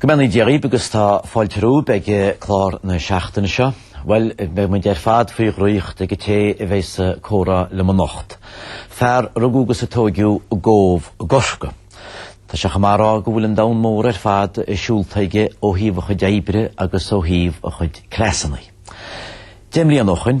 Go mbeannaí Dia dhaoib agus tá fáilte romhaib ag clár na seachtaine seo. Bhuel, beidh muid ar fad faoi dhraíocht ag an té a bheidh sa comhrá liom anocht. Fear a rugadh agus a tóigeadh i gCóbh Chorcaí. Tá sé chomh maith a rá go bhfuil an domhan mór ar fad siúlta aige ó thaobh a chuid oibre agus ó thaobh a chuid cleasanna. Deich mbliana ó shoin,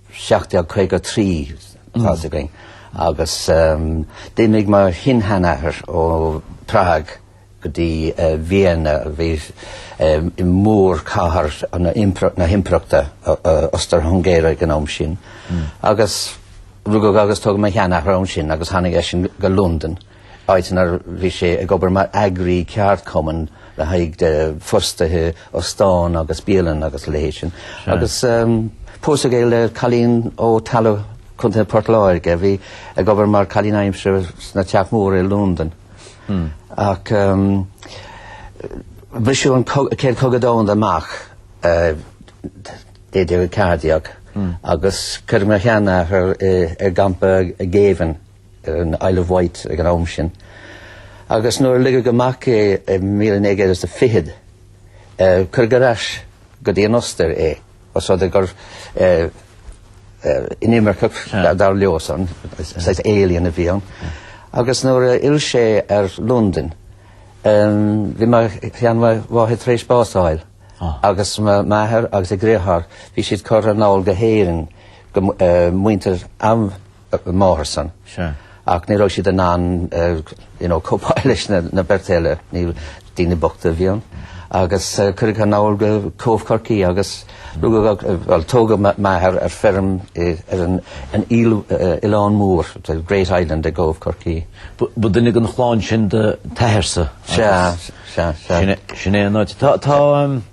1753 tá a fhios againn agus d'imigh mo shin-sheanathair ó Prague go dtí Vienna a bhí i mórchathair na hImpireachta Ostair-Hungáire ag an am sin agus rugadh agus tógadh mo sheanathair ansin agus tháinig eisean go Londain. áit inar bhí sé ag obair mar eagraí ceardchumann le haghaidh de fostaithe óstán agus bialann agus a leithéid sin. Agus pósadh é le cailín ó Tallow, Co. Port Láirge, a bhí ag obair mar cailín aimsire sna teach móra i Londain. Ach briseadh an Chéad Chogadh Domhanda amach i 1914 agus cuireadh mo sheanathair i gcampa géibhinn. ar an Isle of Wight ag an am sin, agus nuair a ligeadh amach é i 1920, cuireadh ar ais go dtí an Ostair é, os rud é gur inimirceach, dar leosan, saghas alien a bhí ann. Agus nuair a fhill sé ar Londain, bhí mo sheanmháthair tar éis bás a fháil, agus m'athair agus a dheartháir, bhí siad curtha anall go hÉirinn, go, muintir a máthairsan. Sure. Ach ní raibh siad in ann you know cóipeáil leis na beirt eile. Níl, daoine bochta a bhí ann. Agus cuireadh anall go Cóbh Corcaí agus rugadh, bhuel tógadh m'athair ar feirm ar an oileán mór, the great island, i gCóbh Chorcaí. Ba duine den chlann sin do t'athairsa? Sea, sea, sea. Sin é an áit. Tá, tá,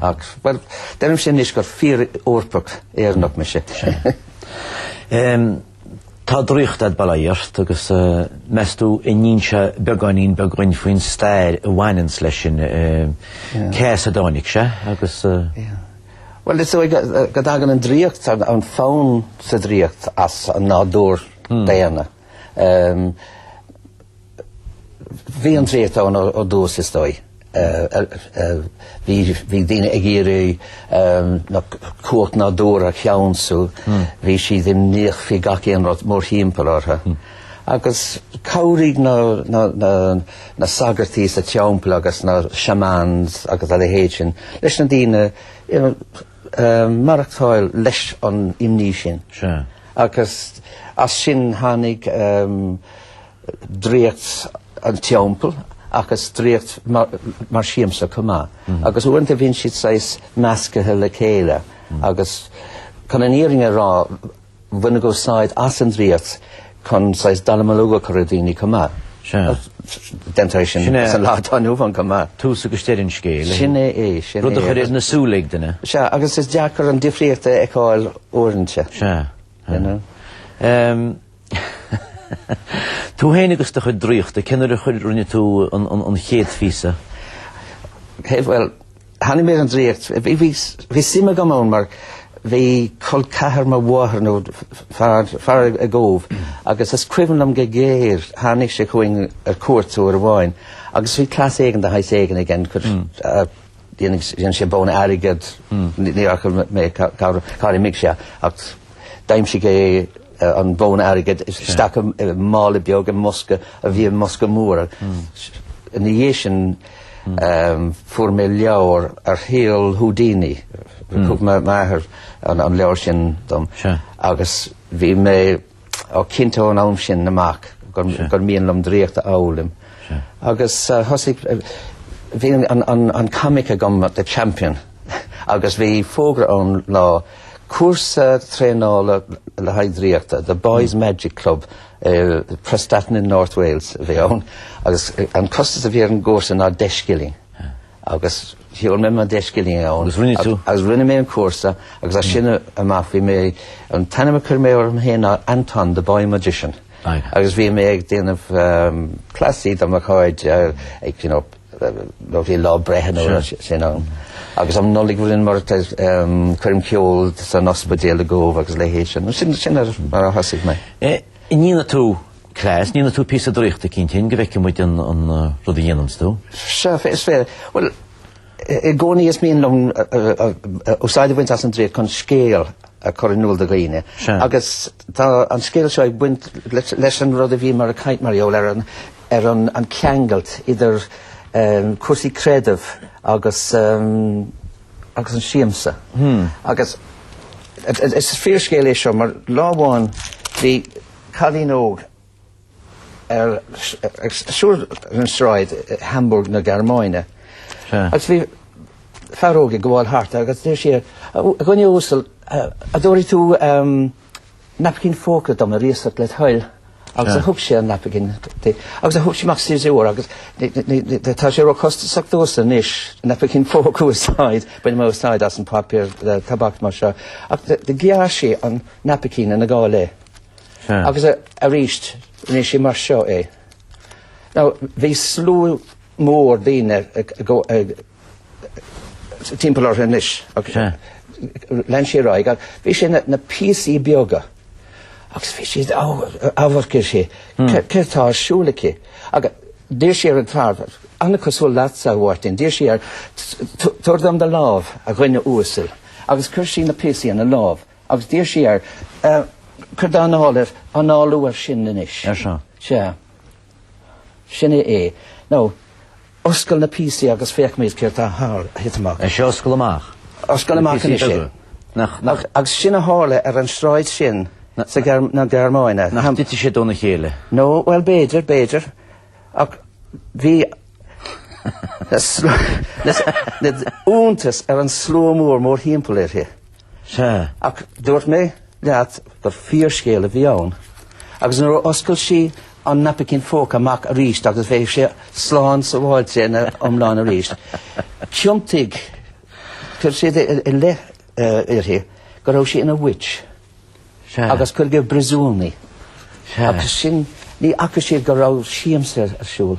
Ach, bhuel, deirim sin anois gur fíor-Eorpach Éireannach mise. Tá draíocht a'd bail ort agus meas tú an inseofá beagáinín beagáin faoin stair a bhaineanns leis sin, cé as a dtáinig sé agus. Bhuel, is dóigh go dtagann an draíocht, an fonn sa draíocht as an nádúr daonna. Bhí an draíocht ann ó dtús, is dóigh. Bhí daoine ag iarraidh na cumhacht nádúrtha a cheansú, bhí siad imníoch faoi gach aon rud mórthimpeall orthu. Agus cabhraigh na sagairtí sa teampall agus na shamans agus a leithéid sin leis na daoine maireachtáil leis an imní sin. Sea. Agus as sin tháinig draíocht an teampaill agus draíocht mar siamsa chomh maith. Agus uaireanta bhíonn siad saghas meascaithe le chéile agus chun an fhírinne a rá, bhaineadh úsáid as an draíocht chun saghas dallamullóg a chur ar dhaoine chomh maith. Sea. Déantar é sin sa lá atá inniu ann chomh maith. Tús agus deireadh an scéil. Sin é é, sin é. Rud a chur ar na súile ag duine. Sea, agus is deacair an difríocht a fheiceáil uaireanta. Sea. You know? Ehm, tú féin agus do chuid draíochta, cén uair a chuir, rinne tú an, an, an chéad phíosa? Cé, bhuel, Tháinig mé ar an draíocht. Bhí suim agam ann mar bhí col ceathar mo mháthar nó fear i gCóbh agus is cuimhin liom go géar tháinig sé chugainn ar cuairt uair amháin agus bhí cleas éigin de shaghas éigin aige, dhéanadh sé bonn airgid, ní fhaca mé cár imigh sé ach d'aimsigh sé an bonn airgid isteach i mála beag i mbosca a bhí i mbosca mór. Ina dhiaidh sin fuair mé leabhar ar shaol Houdini. Thug m'athair an leabhar sin dom agus bhí mé cinnte ón am sin amach gur mhian liom draíocht a fhoghlaim. Agus thosaigh... Bhí an comic agam The Champion agus bhí fógra ann lá Cúrsa traenála le haghaidh draíochta, The Boys Magic Club i Prestatyn in North Wales a bhí ann agus an costas a bhí ar an gcúrsa ná deich scilling agus sheol mé mo deich scilling ann. Agus rinne tú? Agus rinne mé an cúrsa agus as sin amach bhí mé an t-ainm a chuir mé orm féin ná Anton the Boy Magician. Agus bhí mé ag déanamh cleasaí do mo chairde ag you know nó bhí lá breithe nó rud sin ann. Agus am Nollaig bhíodh mar coirm ceoil san ospidéal i gCóbh agus a leithéid sin. Sin mar a thosaigh mé. An ndéanfaidh tú cleas, an ndéanfaidh tú píosa draíochta eicínt go bhfeicfidh muid an an rud a dhéananns tú? Sea, is féidir. Bhuel, i gcónaí is mian liom úsáid a bhaint as an draíocht chun scéal a chur in iúl do dhaoine. Sea. Agus tá an scéal seo ag baint leis an rud a bhíomar ag caint mar gheall ar an ar an an ceangailt idir cúrsaí creidimh agus agus an siamsa. Agus is fíorscéal é seo mar lá amháin bhí cailín óg ag siúl an sráid Hamburg na Gearmáine. Agus bhí fear óg ag gabháil thart agus dúirt sí, a dhuine uasal, an dtabharfaidh tú naipcín póca dom ar iasacht le toil agus a thug sé an naipcín di agus a thug sí amach siosúr agus tá sé róchostasach domhsa anois naipcín póca a úsáid, bainim úsáid as an paipéar tobac mar seo ach do ghearr sí an naipcín ina dhá leath agus arís rinne sí mar seo é. Now bhí slua mór daoine ag timpeall orthu anois. Lean sí ar aghaidh agus bhí sé ina na píosaí beaga agus bhí siad ag amharc uirthi, céard tá ar siúl aici? Agus d'iarr sí ar an fear, an-chosúil leatsa a Mháirtín, d'iarr sí air, tabhair dom do lámh, a dhuine uasail. Agus chuir sí na píosaí ina lámh agus d'iarr sí air, cuir d'anáil air, análaigh air sin anois. Ar seo. Sea. Sin é é. Now, oscail na píosaí agus feicimid céard tá tar éis titim amach. Sea, oscail amach. Oscail amach anois é. Nach, nach. Agus sin a tharla ar an sráid sin sa Ghearm, na Gearmáine. Nach dtitfidh siad óna chéile? No, well, b'fhéidir, b'fhéidir. Ach bhí na, na, na, na, iontas ar an slua mór, mórthimpeall uirthi. Sea, ach dúirt mé leat gur fíorscéal a bhí ann, agus nuair a oscail sí an naipicín phóca amach arís agus bheadh sé slán sábháilte ina iomlán arís, tiontaigh, chuir siad ina leith uirthi go raibh sí ina witch agus cuireadh i bpríosún í. Agus sin, ní fhaca siad go raibh siamsa ar siúl.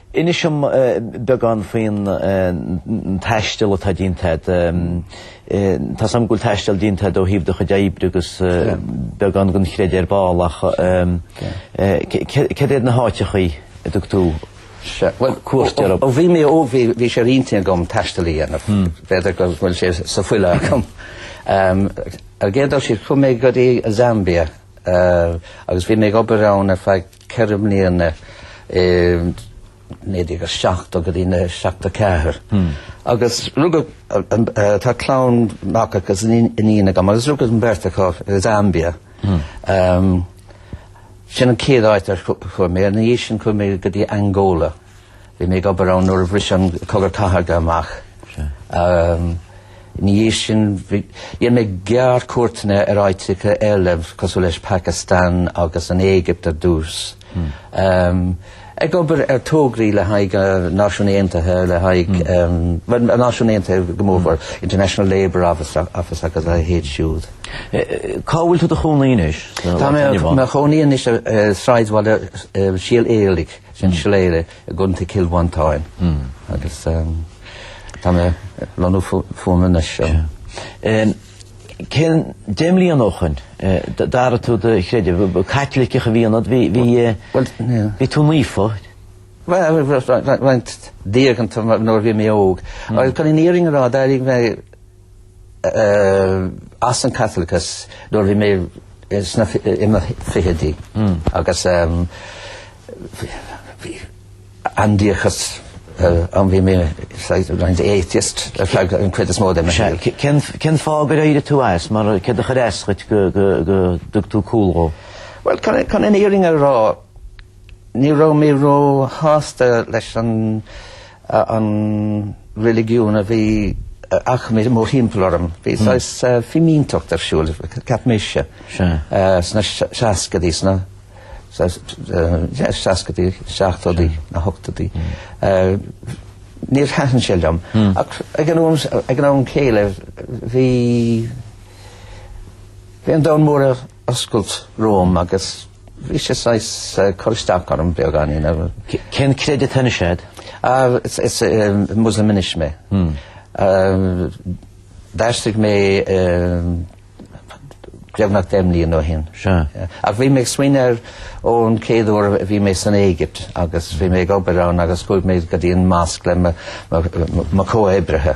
Inis dom beagán faoin taisteal atá déanta agat. Tá's a'm go bhfuil taisteal déanta agat ó thaobh do chuid oibre agus beagán den chraic ar ball ach cad iad na háiteachaí a dtug tú cuairt orthu? Ó bhí mé óg bhí sé i m'intinn agam taisteal a dhéanamh. B'fhéidir go bhfuil sé sa bhfuil agam. Ar an gcéad dul síos chuaigh mé go dtí Zambia agus bhí mé ag obair ann ar feadh 4 mbliana, i 1970 go dtí 74, agus rugadh, tá clann mac agus iníon agam, agus rugadh an bheirt acu i Zambia. Sin an chéad áit ar chuaigh mé. Ina dhiaidh sin chuaigh mé go dtí Angola. Bhí mé ag obair ann nuair a bhris an Cogadh Cathartha amach. Ina dhiaidh sin bhí, dhéanadh mé gearrchuairteanna ar áiteacha eile cosúil leis an Phacastáin agus an Éigipt ar dtús. Ag obair ar tograí le haghaidh an Náisiún Aontaithe, le haghaidh, bhuel, an Náisiún Aontaithe go mór-mhór, International Labour Office, agus a leithéid siúd. Cá bhfuil tú i do chónaí anois? Tá mé i mo chónaí anois i sráidbhaile Shíol Éalaigh. sin Shillelagh i gContae Chill Mhantáin agus tá mé ag lonnú fúm anseo. Cén deich mbliana ó shoin d'athraigh tú do chreideamh? Caitliceach a bhí ionat, bhí tú naofa? Roinnt diaganta nuair a bhí mé óg. Chun an fhírinne a rá, d'éirigh mé as an Caitliceachas nuair a bhí mé sna i mo fichidí agus aindiachas ann. Bhí mé roinnt atheist ar feadh an chuid is mó de mo shaol. Cén fáth gur éirigh tú as? Mar céard a chuir as dhuit go dtug tú cúl dhó? Bhuel, chun an fhírinne a rá, ní raibh mé ró-shásta leis an an reiligiún a bhí ach mórthimpeall orm. Bhí saghas fimínteacht ar siúl, cheap mise, sna seascaidí, sna seascaidí, seachtóidí, na hochtóidí. Níor thaitin sé liom. Ach ag an am céile bhí an domhan mór oscailt romham agus bhí sé saghas ag cur isteach orm beagáinín. Cén creideamh atá anois agat? Ah, is, is eh, Muslim anois mé. Eh, D'aistrigh mé eh, beagnach deich mbliain ó shin. Sea. Eh, Ach bhí mé ag smaoineamh ar ón céad uair a bhí mé san Éigipt agus bhí mé ag obair ann agus chuaigh mé go dtí an Mosque le mo, mo, mo, mo comhoibrithe.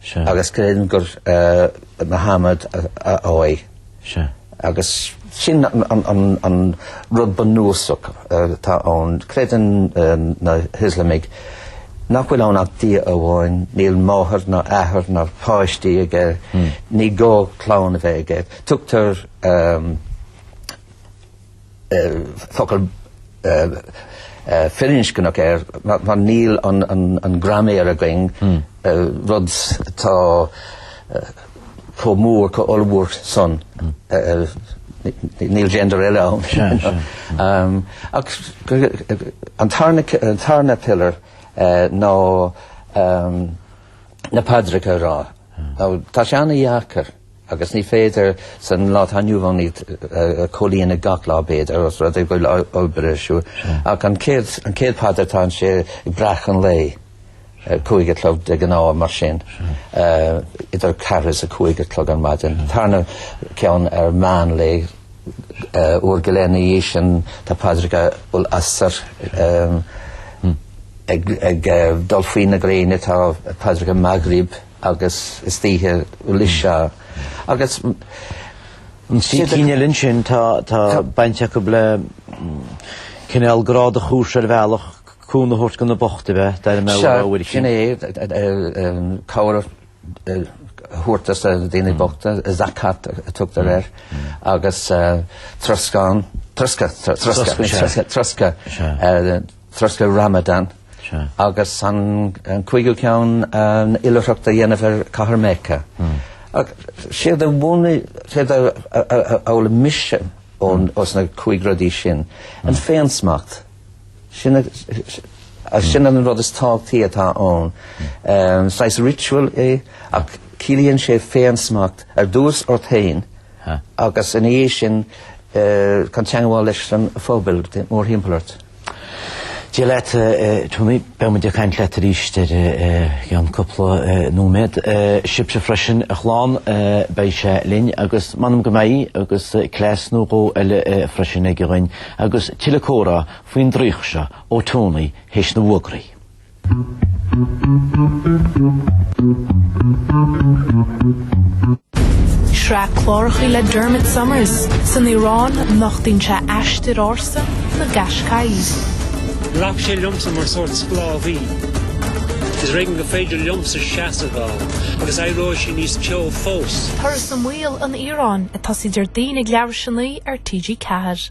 Sea. Agus creidim gur Muhammad a fháidh. Sea. Agus sin an rud bunúsach atá ann. Creideann na hIoslamaigh nach bhfuil ann ach Dia amháin, níl máthair ná athair ná páistí aige, ní gá clann a bheith aige. Tugtar focal firinscneach air mar níl an graiméar againn, rud atá chomh mór, chomh ollmhór san, níl gender eile ann. Ach an tarna pillar ná na paidreacha a rá. Tá sé an-dheacair. Agus ní féidir, sa lá atá inniu ann, iad a chomhlíonadh gach lá, b'fhéidir, os rud é go bhfuil obair ar siúl. Ach an chéad phaidir, tá sé ag breacadh an lae, cúig a chlog de ghnáth, mar sin, idir a ceathair is a cúig a chlog ar maidin. An tarna ceann ar mheánlae, uair go leith ina dhiaidh sin, tá paidreacha al-Asr ag dul faoi na gréine, tá paidreacha Maghrib, agus istoíche al-Isha agus cinn eile ansin tá baint acu le cineál grá do chomharsa ar bhealach, cúnamh a thabhairt do na bocht a bheith, dar mbeadh a rogha uirthi. Sin é, cabhair a thabhairt do na daoine bochta, zakat a tugtar air, agus troscán, troscadh, troscadh, troscadh, troscadh Ramadan agus an cúigiú ceann an oilithreacht a dhéanamh ar Cathair Mecca. Séard a mhúin, séard a fhoghlaim mise ós na cúig rudaí sin, an féinsmacht, sin an rud is tábhachtaí atá ann. Saghas ritual é ach ciallaíonn sé féinsmacht ar dtús ort féin agus ina dhiaidh sin chun teagmháil leis an phobail mórthimpeall ort. Dia leat, Tony. Beidh muid ag caint leat aríst i gceann cúpla nóiméad. Sibhse freisin, a chlann, beidh sé linn agus m'anam go mbeidh agus cleas nó dhó eile freisin aige dhúinn agus tuilleadh comhrá faoin draíocht seo ó Tony théis na bhfógraí. Sraith cláracha le Dermot Somers san Iaráin a nochtaíonn sé aistear ársa na Qashqai. Ghlac sé liomsa mar sórt sclábhaí. Is ar éigean go féidir liomsa seasamh ann agus éireoidh sé níos teo fós. Turas i mbaol an Iaráin ag tosaí Déardaoin ag leathuair théis a naoi ar TG4.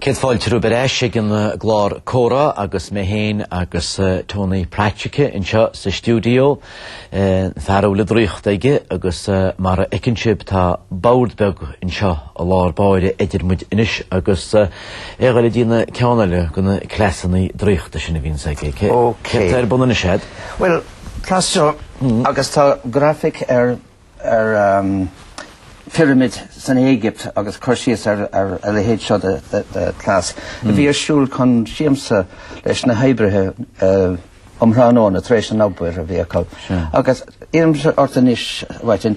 Céad fáilte romhaibh ar ais ag an gclár Comhrá agus mé féin agus Tony Pratschke anseo sa stiúideo. An fear a bhfuil an draíocht aige agus mar a fheiceann sibh tá bord beag anseo i lár báire idir muid anois agus é ag goil ag déanamh ceann eile de na cleasanna draíochta sin a bhíonns aige. Céard atá ar bun anois agat? Bhuel, cleas seo agus tá grafaic ar phirimid san Éigipt agus cur síos ar a leithéid seo de cleas. A bhí ar siúl chun siamsa leis na hoibrithe um thráthnóna tar éis an obair a bhí acu. Agus iarraimse ort anois, a Mháirtín,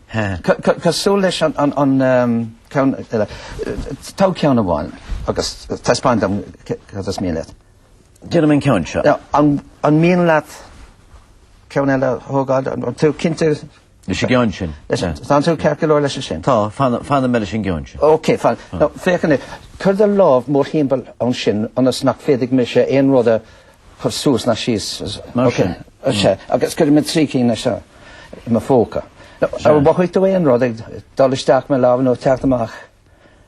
Cosúil leis an ceann eile, tóg ceann amháin agus taispeáin dom cad is mian leat. Déanfaidh mé an ceann seo. An mian leat ceann eile a thógáil? An tú cinnte? Leis an gceann sin. Tá tú ceart go leor leis sin? Tá, fanfaidh mé leis an gceann sin. Ok, fanfaidh. Féach anois, cuir do lámh mórthimpeall ansin ionas nach féadfaidh mise aon rud a chur suas ná síos, mar sin. Is ea, agus cuirfidh mé trí cinn leis seo i mo phóca. An mhothaigh tú aon rud ag dul isteach mo lámh nó teacht amach?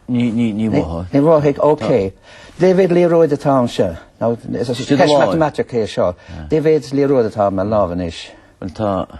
Ní mhothaigh. Ní mhothaigh, ok. Dé mhéad liathróid atá ansan? Now, is ceist matamaitic é seo, dé mhéad liathróid atá ar mo lámh anois. Bhuel tá,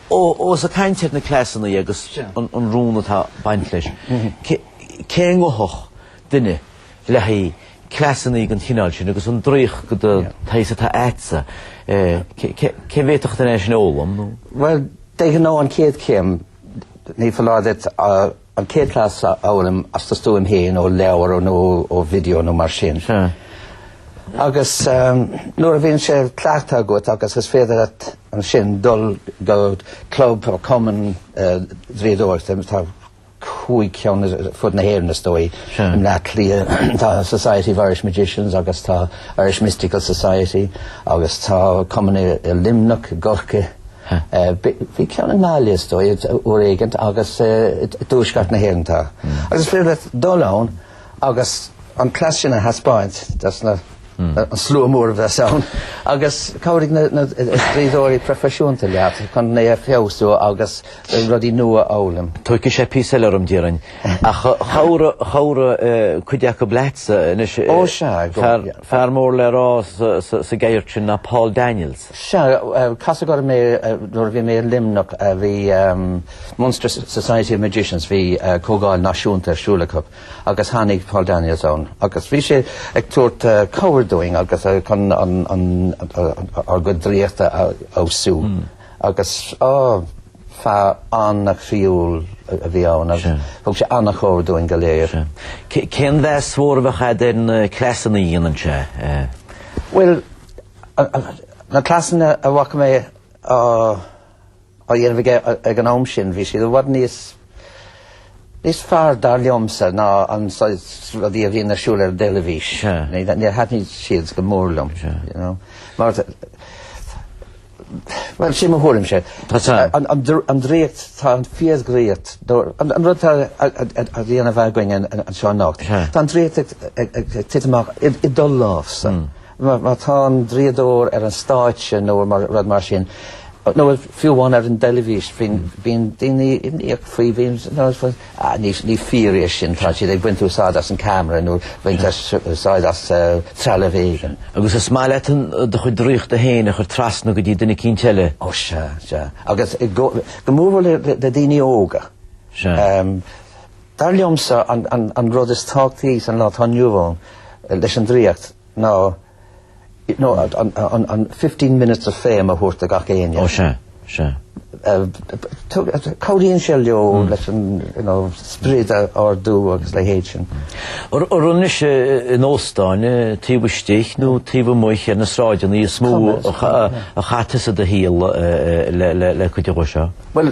Ós ag caint ar na cleasanna agus an rún atá ag baint leis, cé ngabhfadh duine le haghaidh cleasanna den chineál sin agus an draíocht den tsaghas atá agatsa, cé a bhféadfadh duine é sin a fhoghlaim nó? Bhuel, de ghnáth an chéad chéim, ní foláir duit a. An chéad cleas a fhoghlaim as do stuaim féin ó leabhar nó ó video nó mar sin. Agus nuair a bhíonn sé cleachta agat agus is féidir leat ansin dul go club nó cumann draíodóireachta, tá cúig ceann ar fud na hÉireann is dóigh, i mBleá Cliath tá Society of Irish Magicians agus tá Irish Mystical Society agus tá cumainn i Luimneach, i gCorcaigh. Bhí ceann i dTrá Lí, is dóigh, uair éigin agus i dtuaisceart na hÉireann tá. Agus is féidir leat dul ann agus an cleas sin a thaispeáint dos na, an slua mór a bheas ann, agus cabhróidh na, na, draíodóirí proifisiúnta leat chun é a fheabhsú agus rudaí nua a fhoghlaim. Tógfaidh sé píosa eile orm, déarfainn. Ach chabhraigh, chabhraigh cuid acu leatsa anois. Ó sea, go, yeah. Fear mór le rá sa, sa, sa gceird sin ná Paul Daniels. Sea, casadh orm é nuair a bhí mé i Luimneach. Bhí Munster Society of Magicians, bhí Comhdháil Náisiúnta ar siúl acu agus tháinig Paul Daniels ann agus bhí sé ag tabhairt cabhair dúinn agus chun ár gcuid draíochta a fheabhsú. Agus, á, fear an-chroíúil a bhí ann agus thug sé an-chabhair dúinn go léir. Cén meas mór a bheadh agat ar na cleasanna a dhéanann sé? Bhuel, Na cleasanna a bhfaca mé á dhéanamh aige ag an am sin, bhí siad i bhfad níos fearr, dar liomsa, ná an saghas rudaí a bhíonn ar siúl aige ar an dteilifís. Níor thaitnigh siad go mór liom, you know. Mar, bhuel, sin mo thuairimse. An draíocht, tá an fíordhraíocht, an rud atá á dhéanamh againn anseo anocht, tá an draíocht ag titim amach i do lámhsa. Má tá an draíodóir ar an stáitse nó rud mar sin, nó fiú amháin ar an dteilifís, bíonn daoine imníoch faoi, bíonn, ah, ní fíor é sin, tá siad ag baint úsáid as an camera nó ag baint úsáid as trealamh éigin. Agus is maith leatsa do chuid draíochta féin a chur trasna go dtí duine eicínt eile. Ó sea, sea. Agus go mór mhór le daoine óga. Sea. Dar liomsa an rud is tábhachtaí sa lá atá inniu ann leis an draíocht ná an fifteen minutes of fame a thabhairt do gach éinne. Ó sea, sea. Cabhraíonn sé leo leis an sprid a ardú agus a leithéid sin. An raibh anois in óstáin taobh istigh nó taobh amuigh ar na sráideanna is mó a chaith tusa do shaol le cuid do sheó? Bhuel.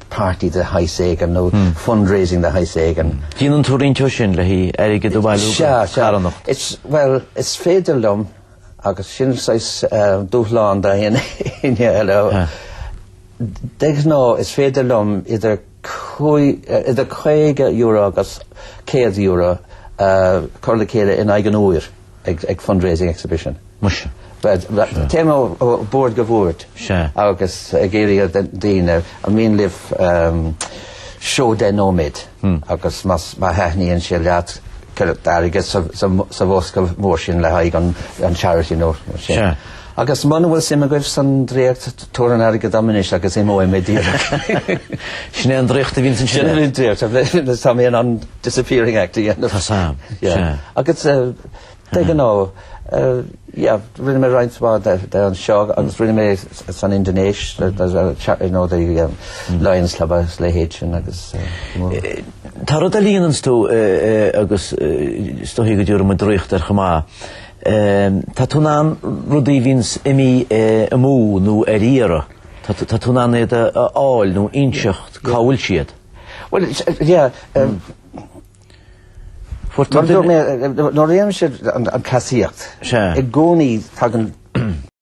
party de shaghas éigin nó fundraising de shaghas éigin. Déanann tú roinnt de sin le haghaidh airgead a bhailiú do charthanacht. Sea, sea. Bhuel, is féidir liom agus sin an saghas dúshlán do éinne eile. De ghnáth is féidir liom idir €50 agus €100 a chur le chéile in aghaidh an uair. ag fundraising exhibition. Muise. Téim ó bhord go bhord agus ag iarraidh ar daoine, an mian libh seó deich nóiméad agus má thaitníonn sé leat cuir airgead sa bhosca mór sin le haghaidh an charity nó mar sin. Agus muna bhfuil suim agaibh san draíocht, tabhair an airgead dom anois agus imeoidh mé díreach. Sin é an draíocht a bhíonns ansin. Sin é an draíocht. Tá mé in ann disappearing act a dhéanamh. Tá, sea. Sea. Agus de ghnáth, yeah, rinne mé roinnt mhaith de anseo agus rinne mé san Indinéis, you know, the Lions Club agus a leithéid sin agus Tá rud a dhéananns tú agus is dóigh go dtabharfá draíocht air chomh maith. Tá tú in ann rudaí a bhíonn imithe amú nó ar iarraidh, tá tú in ann iad a fháil nó inseacht cá bhfuil siad. Bhuel, yeah, umm, fuair tú an duine. Nuair a dhéanaimse an asarlaíocht, i gcónaí tagann.